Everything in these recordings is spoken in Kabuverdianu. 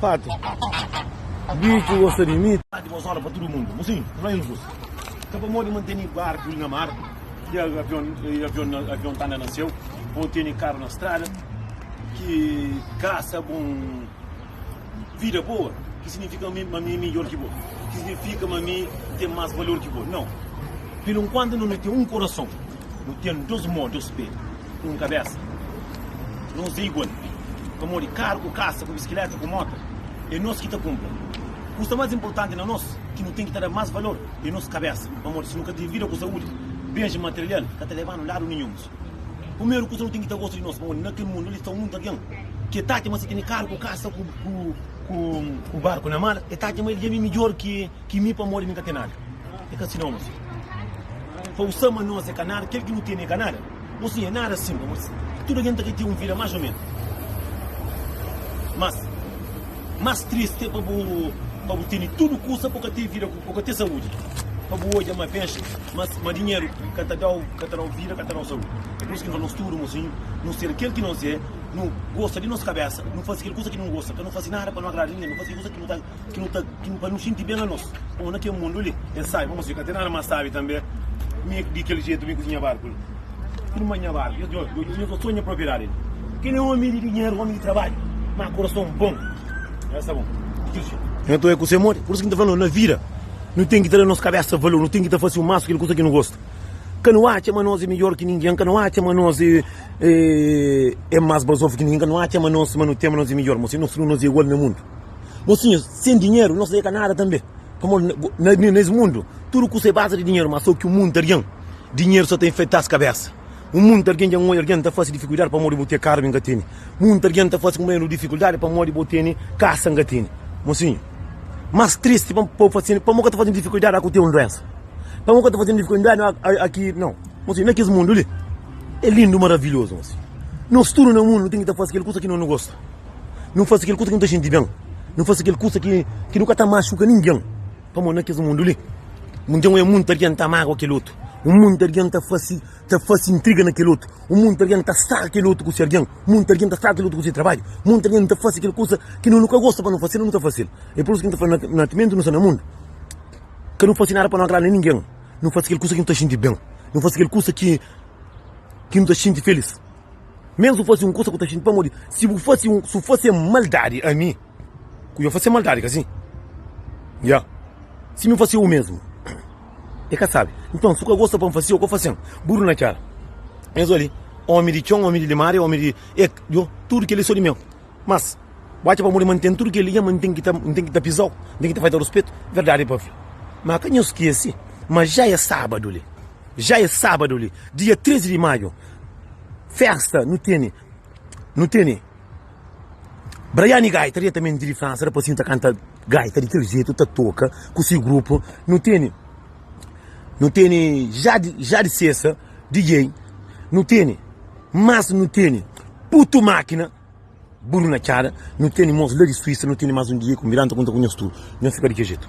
Pátri, di ki gosta di mi? Pátri, bo zola pa tudu mundu. Bo sim, no injus. Ka pamodi ma N teni barku li na mar y avion y avion na avion ta anda na seu, bo teni karu na strada ki gasta bo vida boa, ki signifika mi ma mi é midjor ki bo? Ki signifika ma mi ten más valor ki bo? Nau. P'inkuantu no no ten un korason. Nu ten dôs mô, dôs pé, un kabésa. Nos é igual, pamodi karu ku kasa, ku biskiléta ku móta, é nos ki ta kunpra. Kusa más inportanti na nos, ki nu ten ki ta da más valor, é nos kabésa, pamodi si nu ka ten vida ku saúdi, benjis material ka ta leba-nu ladu ninhun. Primeru kusa, nu ten ki ta gosta di nos, pamodi na kel mundu li sta monti algen ki el ta atxa ma si el tene karu ku kasa ku barku na mar, el ta atxa ma el dja ben midjór ki. Ki mi pamodi mi ka ten nada e ka sina omis pa usa ma nos e ka nada kel ki nu tene e ka nada bo si e nada sin pamodi tudu algen ta ka ten un vida mas o menos mas mas triste e pa bu pa bu tene tudu kusa pa bu ka ten vida ku ka ten saudi pa bu odja ma benxi mas ma dinheru ka ta dau ka ta dau vida ka ta dau saudi e por isu ki nu fala nos tudu mosinhu nu ser kel ki nos e nu gosta di nos kabesa nu fasi kel kusa ki nu gosta ka nu fasi nada pa nu agrada ninge nu fasi kel kusa ki nu ta. ki nu ta ki nu pa nu sinti ben a nos pamo na kel mundu li el sabi pamo si ka ten nada mas sabi tanbe mi di kel jetu mi ku nha barku li ki nu manha barku yo yo ta sonha propriedadi li kel é omi di dinheru omi di trabadju ma kurason bon el sta bon di kel jetu. Nton é kuse modi pur isu ki nu ta fla na vida nu ten ki ta da nos kabesa valor nu ten ki ta fase o masu kel kusa ki nu gosta ka nu atxa ma nos é midjor ki ningen ka nu atxa ma nos é é mas bazofu ki ningen ka nu atxa ma nos ma nu ten ma nos é midjor pamo si nos tudu nos é igual na mundu. Mosinhas, sem dinheiro nós é ka nada também Pamó nes mundo tudo kusa é base di dinheiro Má só ki munt argen dinheiro só ta enfeitá-s kabésa Munt argen dja nhoja argen ta fase difikuldadi pamodi bo ten karu mi nka teni Munt argen ta fase kumé nu difikuldadi pamodi bo teni kasa nka teni Mosinhu, más tristi pa bo fase-m Pamó ka ta fase-m difikuldadi aku ten un duensa Pamó ka ta fase-m difikuldadi aki Nau Mosinhu, na kes mundo li é lindo maravilhoso Mosinhu, nós tudo na mundo nu ten ki ta fase kel kusa ki nós nu gosta. Nu faze kel kuza ki nu ta xinti ben. Nu faze kel kuza ki nu ka ta maxuka ningen. Pamodi na kes mundu li, nton é monti algen ta mágua kel otu, monti algen ta faze intriga na kel otu, monti algen ta straga kel otu ku se algen, monti algen ta straga kel otu ku se trabadju, monti algen ta faze kel kuza ki nu ka gosta pa nu faze-l, nu ta faze-l. É pur isu ki nu ta fla ma timenti nu sta na mundu, ka nu faze nada pa nu agrada ningen. Nu faze kel kuza ki nu ta xinti ben, nu faze kel kuza ki nu ta xinti filís. Ménsu fase un kusa ku ta xinti pamodi si bu fase un. Si bu fase maldadi ami, ku yo fase maldadi, ka sin? Ya. Si mi fase u mézmu, e ka sabe. Nton, si bu ka gosta pa N fase, o ka fase-m. Buru na txéra. Es obi li, ómi di txon, ómi di limária, ómi di. E yo, tudu kel-li é so di meu. Mas, bu atxa pamodi ma N ten tudu kel-li nha ma N ten ki ta, N ten ki ta piza-u? N ten ki ta faze-u ruspetu? Verdadi pa fla ma ka nhos skese ma dja é sábadu li. Dja é sábadu li, dia 13 di maju. Festa nu tene, nu tene. Braiane Gaita diretamente di França, rapazinho ta canta gaita di kel jeito, ta toca ku si grupo. Nu tene, nu tene Jade, Jade Sessa, DJ. Nu tene, mas nu tene Putu Makina, Buru na Txada. Nu tene mos la di Suíça, nu tene mas un DJ ku Miranda ku Nta Ku Nhos Tudu. Nhos fika di kel jeito.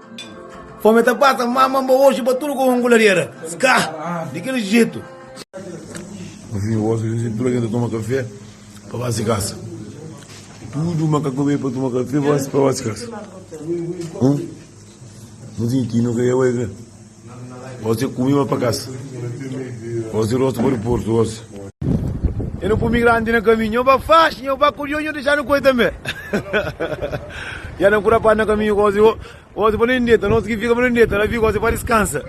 Fome ta pasa mama mba oxi pa tudu komu anguladera ska di kel jetu. Pa fin di gosi di tudu algen ta toma kafé pa ba si kasa. Tudu makak ta bai pa toma kafé pa ba si kasa. Hum. Nhu tinha ki nu ka ia bai ka. Osi é kumi ba pa kasa Osi rostu pa di portu Osi é nu pumi grandi na kaminhu Nho ba faxi, nho ba kudjo Nho dexa nu koi tanbe Ya nan kura padi na kaminhu Osi, osi pa nen deta Osi ki fika pa nen deta La fika osi pa diskansa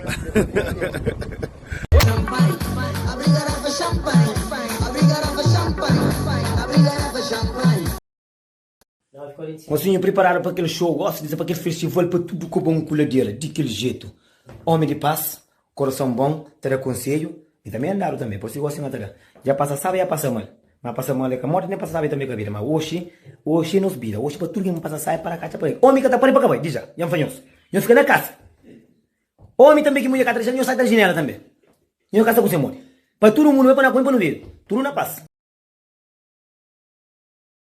Nós vinha priparadu pa kel xou, óspides pa kel festival pa tudu ku bon ku ladera di kel jetu ómi di pas korason bon ta da konsedju mi tanbe é andadu tanbe pode ser gosi ma ta da dja pasa sabi dja pasa mal ma pasa mal é ka morti nen pasa sabi tanbe ka vida ma oxi oxi é nos bida oxi pa tudu ken pasa sabi para ka atxa pa el ómi ka ta pari pa ka bai di dja dja nfa nhos nhos fika na kasa ómi tanbe ki mudjer ka ta dexal nhos sai ta jinela tanbe nhos ka sta ku se modi pa tudu mundu bai pa na kumi pa nu vive tudu na pas.